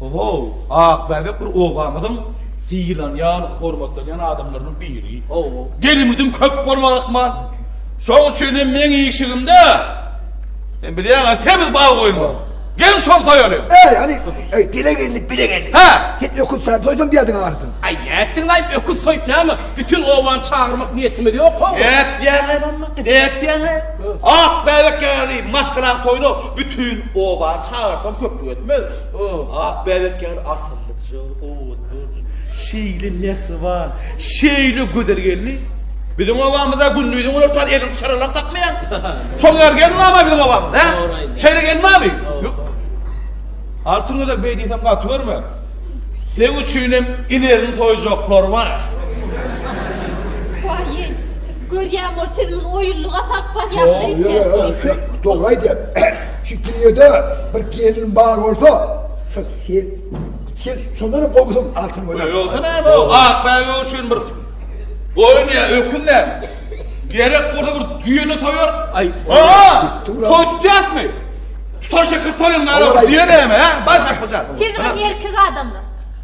Ho-how, Akbäbek bir obamyzyň sylanýan, hormatlanýan adamlarynyň biri. Ho-ho. Gelimidim köp bolmaly ahmal. Şoň üçin hem meň işigimde, sen bilýäň-ä, semiz bag goýulmaly. Gel şol soýaly. Äý, hany, äý, bile geldi, bile geldi. Hä! Sen öküz saýyp soýsaň diýýärdiň aňyrdan. Äý, nätdiň-laý, öküz soýup näme? Bütin obany çagyrmak niýetimiz ýok, ho-ho. Nätýäň-ä, nätýäň-ä? Ak bäbek ýaly maşgalaň toýuna bütin obany çagyrsaň köplük etmez. Ak bäbek ýaly asyllyja, owadan, şeýle mähriban, şeýle gözel gelni biziň obamyzda gündiziň günortan elini çyralar tapmaýar. Şol ýaly gelin barmy biziň obamyzda, hä? Şeýle gelin barmy? Ýok. Altyn gözel beý diýsem gaty görme. Seň üçinem inerini soýjaklar bar. Waýý! Görýäň ol siz muny oýunlyga salyp barýaňyz öýtýän. Dogry aýdýar. Şu dünýede bir gelin bar bolsa şo sen. Sen şondanam gowusyň Altyn gözel. Öýli bolsa näme ol ak bäbek üçin bir goýun ýa ökün näme. Gerek bolsa bir düýe-de soýar. Aa! Toý tutýasmy? Tutan şekil toýuň näme bir düýe näme he? Baş ýapyjak. Siz bir erkek adamlar.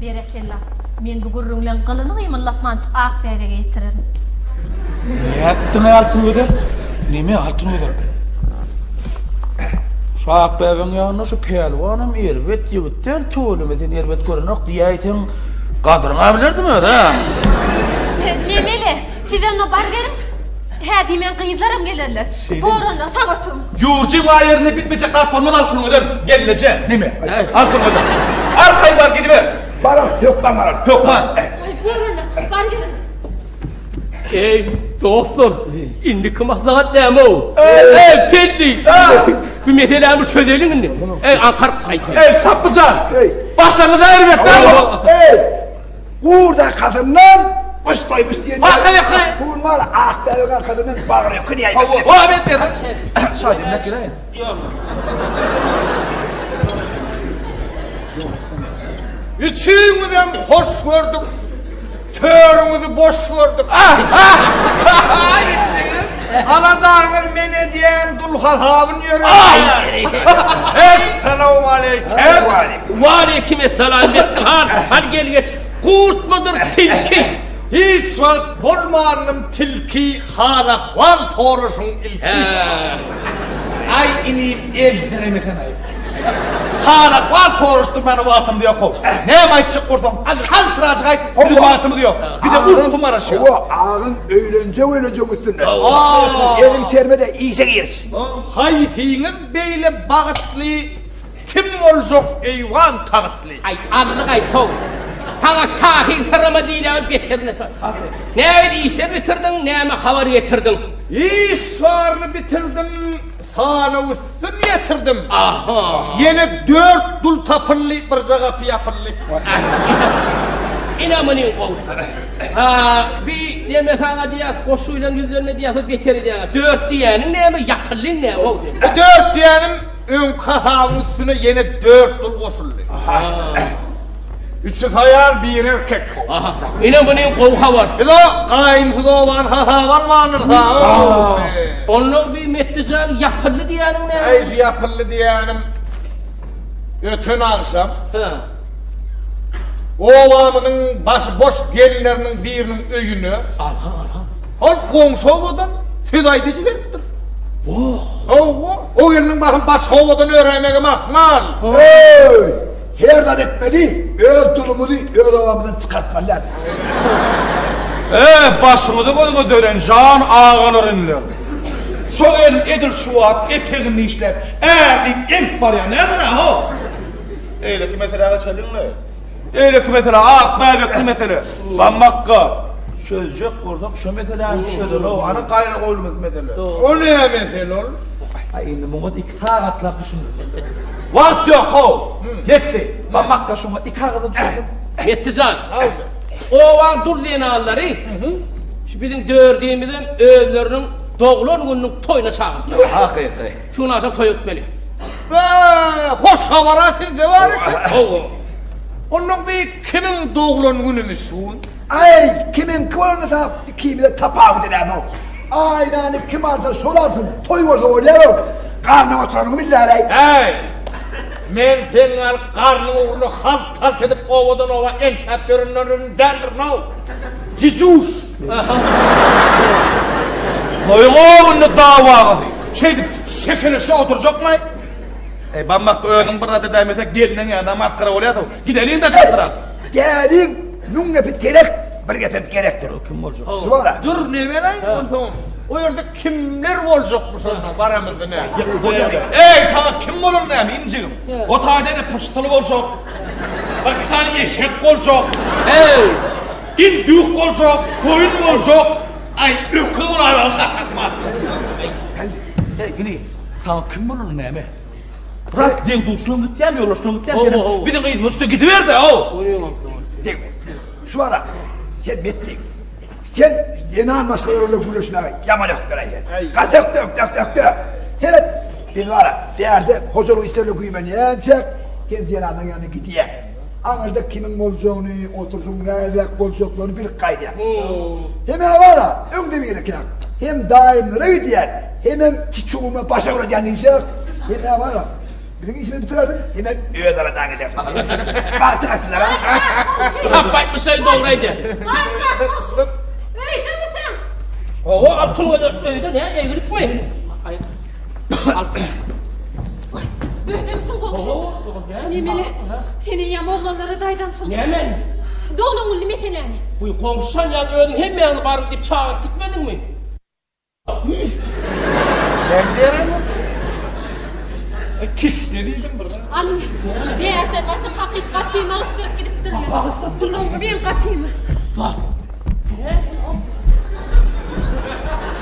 Berekella. Men bu gürrüňleň gylyny gymyldapmançyk ak bäbege ýetirerin. Nätdiňä Altyn gözel? Neme Altyn gözel? Şu ak bäbegiň ýanynda şu pälwanam erbet ýigit däl tüweleme sen erbet görenok diýäýseň gadyryňa bilerdim özi. Nemeli? Siz onda baryberiň. Hä diýmän gyzlaram gelerler. Boranlar sag oturyň. Ýurjy waýerine bitmejek gapylmaz alkymyňyzam gelneje. Neme? Alkymyňyzam. Al Haýbar gidiber. Barar, hökman barar. Hökman. Aý, bor onda. Bar gelin. Eý, dostlar, indiki maslahat näme-ow? Eý, Pelli! Bu meseläni çözeliň indi. Eý, Ankar, haýt. Eý, Sapbyjan! Başlangyjy aýryberk näme? Eý! Gurda kazyndan Baş toýmuş diýen. Haha haha. Bugün bar ak bäbege kazyndan bagry ýok diýen. Hawa. Wa bet der. Şaýy näme gerek? Ýok. Üçüňiz hem hoş gördük. Törüňizi boş gördük. Ah! Ah! Aladaňyz men edýän dul hasabyn ýöretýän. Essalawmaleýkim. Waleýkim essalam Mehdi han. Hany gel geç. Gurtmydyr tilki? Hiç wagt bolmandym tilki han ahwal soraşyň ilki. Aý inim eljiremesenaý. Hala ahwal soraşdyrmana wagtymyz ýok-ow. Näme aýtjak bolsaň, hal trajyk aýt, biziň wagtymyz ýok. Bize uýky maraşýar. Hawa, agyň öýlenjek-öýlenjek üstünde. Eliň çermede, işe giriş. Haýsyňyz beýle bagytly, kim boljak eýwan tagytly? Aý, anlyk aýt-ow. Saňa şahyň syrymy diýlegi beterine tor. Nähili işleri bitirdiň, näme habar getirdiň? Iş baryny bitirdim, Sana üstün ýetirdim. Aha! Ýene dört dul tapyldy, birje gapy ýapyldy. Ine muny gowy. A, bi neme sana diýýäs, goşgy bilen ýüzlenme diýýäs, beter edýäňä. Dört diýýäniň näme, ýapyldy näme gowy sen? Bu dört diýýänim öňki hasabyň üstüne ýene dört dul goşuldy. Aha! Üçüs aýal bir erkek. Aha. Ine muny gowy habar. Ilo gaýynsyz oban hasap almandyr sa. Onda bir Metdijan ýapyldy diýýäniň näme? Aý şu ýapyldy diýýänim öten agşam. Hä. Obamyzyň başy boş gelinleriniň biriniň öýüne. Aha aha. Ol goňşy obadan söz aýdyjy gelipdir. Wah. Hawa, o gelniň baryp başga obadan öräýmegi mahmal. Öý! Her zat etmeli, öz dulumyzy öz obamyzdan çykartmaly dälmi? Öe, başyňyzy gözüňe dönen jan agalarymlar! Şo gelin edil şu wagt etegini dişläp, ä diýip eltip barýar, näme-de, ho! Beýleki meselä geçeliň-le. Beýleki mesele, ak bäbekli mesele. Bamakka, çözjek bolsak, şo meseläni çözel-ow, ana gaýra goýulmasyn mesele. O näme mesele ol? Indi muňa Sagatlap düşündirmeli. Wagt ýok how. Ýetdi. Barmakda şuňa iki agyza düşündim. Ýetdi jan. Obaň dul zenanlary şu biziň dördimizem özleriniň doglan gününiň toýuna çagyrdylar. Hakyky. Şu gün agşam toýa gitmeli. Be, hoş habar-a sizde bar eken. Hawa. Onda bu kimiň doglan günümi şu gün? Aý, kimiňki bolanda saňa ikimize tapawudy näme-ow? Aýnany kim alsa, şol alsyn, toý bolsa bolýar-ow. Garnyň oturanyňy billäräý. Äý, men seniň alyp garnyň ugruna halt-halt edip owadan-owa entäp ýörenleriňden däldirin-ow, gijuş! Goýuň-ow indi dawaňyzy! Şeýdip, şekeleşip oturjakmy? Eý, bammak, özüň bir zat edäýmesek, gelniň ýa-da masgara bolýas-ow. Gideliň de çagyrak. Geliň, müň gepi telek, bir gepem gerekdir. Ol kim boljak? Şu bar. Dur, ne beräý, onsoň o ýerde kimler boljakmyş onda baramyzda nä? Eý, taňa kim bolan näme, injigim? O taýda ene pyşdyly boljak. Bir iki sany eşek boljak. Eý, indük boljak, goýun boljak. Aý, öküz bolaýmaly gaty akmal. Eý, Pälli, eý, ine, taňa kim bolan näme? Brat, deň duşuňam gitýän, ýoldaşyňam gitýän, sen biziň gyzymyz üstüne gidiber-de, how! Deň bolsun. Şu wara, sen metdek. Sen zenan maşgala bilen gürleşmäge ýaman ökderäý sen. Gaty ökde, ökde, ökde, ökde. Seret, biz wara, bärde hojalyk işlerine güýmenýänçäk, sen zenanyň ýanyna gidýäň. Aňyrda kimiň boljagyny, oturşyň näleräk boljaklaryny bilip gaýdýar. Hemä bar-a, öňde birekäk. Hem daýymlara gidýän, hemem çuçuguma baş agradýan diýişýär. Hemä bar-a, biziň işimizi bitirersiň, hemem öz araňdan gidersiň. Bagtyň açylar-a. Çap aýtmyşlaý, dogry aýdýar. Baýbak goşgy öýdemiseň? Hawa, Altyn gözel öýde, nä, eglikmi? Öýdemsiň gowşy. Nemeli? Sen eýýäm oglanlara daýdansyň. Näme? Doglan güldi mesenäni. Guý, gowşan ýaly özüň hemmäňizi baryň diýip çagyryp gitmediňmi? Men beremin. Kişde diýdim bir. Alyň. Näse, gaty hakyt gapymy agystyryp gidipdirler. Gapy agystyrypdyrlar. Bil gapymy. Bak. Näme?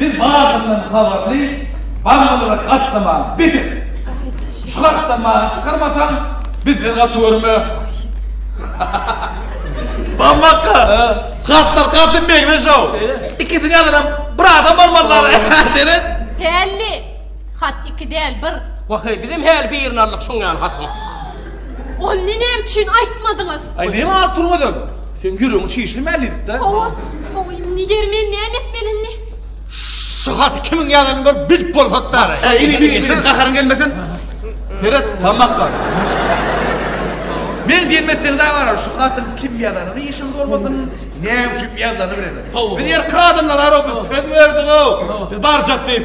Biz baryndan habarly barmazara gatnaman beter şu hatda many çykarmasaň bizden gaty görme Bamaka hatlar gaty megde şow ikisini ýazyram bir adam barmazara deret Hälli hat iki däl bir. Waheý bizem häli birini aldyk şoň ýaly hatyň. Ony näme üçin aýtmadyňyz? Aý, näme alyp duruň özem? Seň ýüregiň çişli mälidik-dä. Hawa, hawa, indi ýeri men näme etmeli indi? Şu haty kimiň ýazyanyny bir bilip bolsat-da! Aý, ine, ine, ine, gaharyň gelmesin. Seret, tamak bar. Men diýenimi etseňiz-ä garaz, şu hatyň kim ýazanyny işiňiz bolmasyn, näme üçin ýazylanyny bileňiz. Biz erkek adamlar-a, biz söz berdik-ow, biz barjak diýip.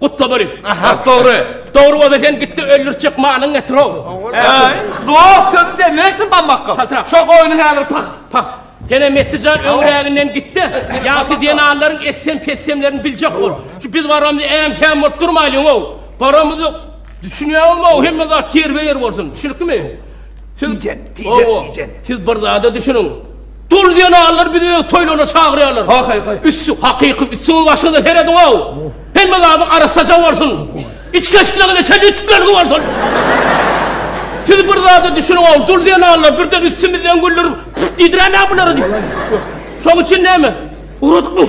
Gutlabaly. Hak dogry. Dogry bolsa sen gitdi öldürtjek malyň getirog. Dog köp sen neştin bammakka. Kaltra. Şo goýny häzir pak. Pak. Senem Mettijan öňräginden gitdi. Ýaňky zenanlaryň etsem petsemlerini biljek bol. Şu biz baramyzy äm şäm bolup durmaýlyň ow. Baramyzy düşünýäňizmi ow hemme zat ýerbe ýer bolsun. Düşünikmi? Siz, hawa, siz bir zada düşüniň. Dul zenanlar bizi öz toýlaryna çagyrýarlar. Haý, haý. Üstsi, hakyky üstüňiň başyňyza serediň-ow. Hemme zady arassaja bolsun. Içgeçligiňize çenli ütükleriniz bolsun. Siz bir zada düşüniň-ow, dul zenanlar birden üstümizden güldürip, püf diýdiräýmä bulary diýip. Şoň üçin näme? Ugradykmy?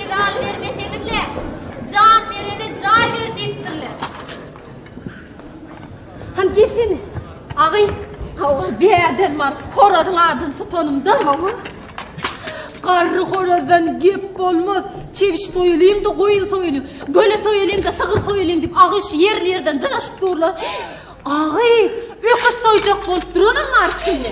Medal bermeseňizle, jan berene jaý ber diýipdirler. Han gelsin. Agy, şu bärden bar horazyň adyny tutanymda, hawa. Garry horazdan gep bolmaz. Çewiş soýulyň da goýun soýulyň. Göle soýulyň da sygyr soýulyň diýip agy şu ýerli-ýerden dyzaşyp durlar. Agy, öküz soýjak bolup duranam bar içinde.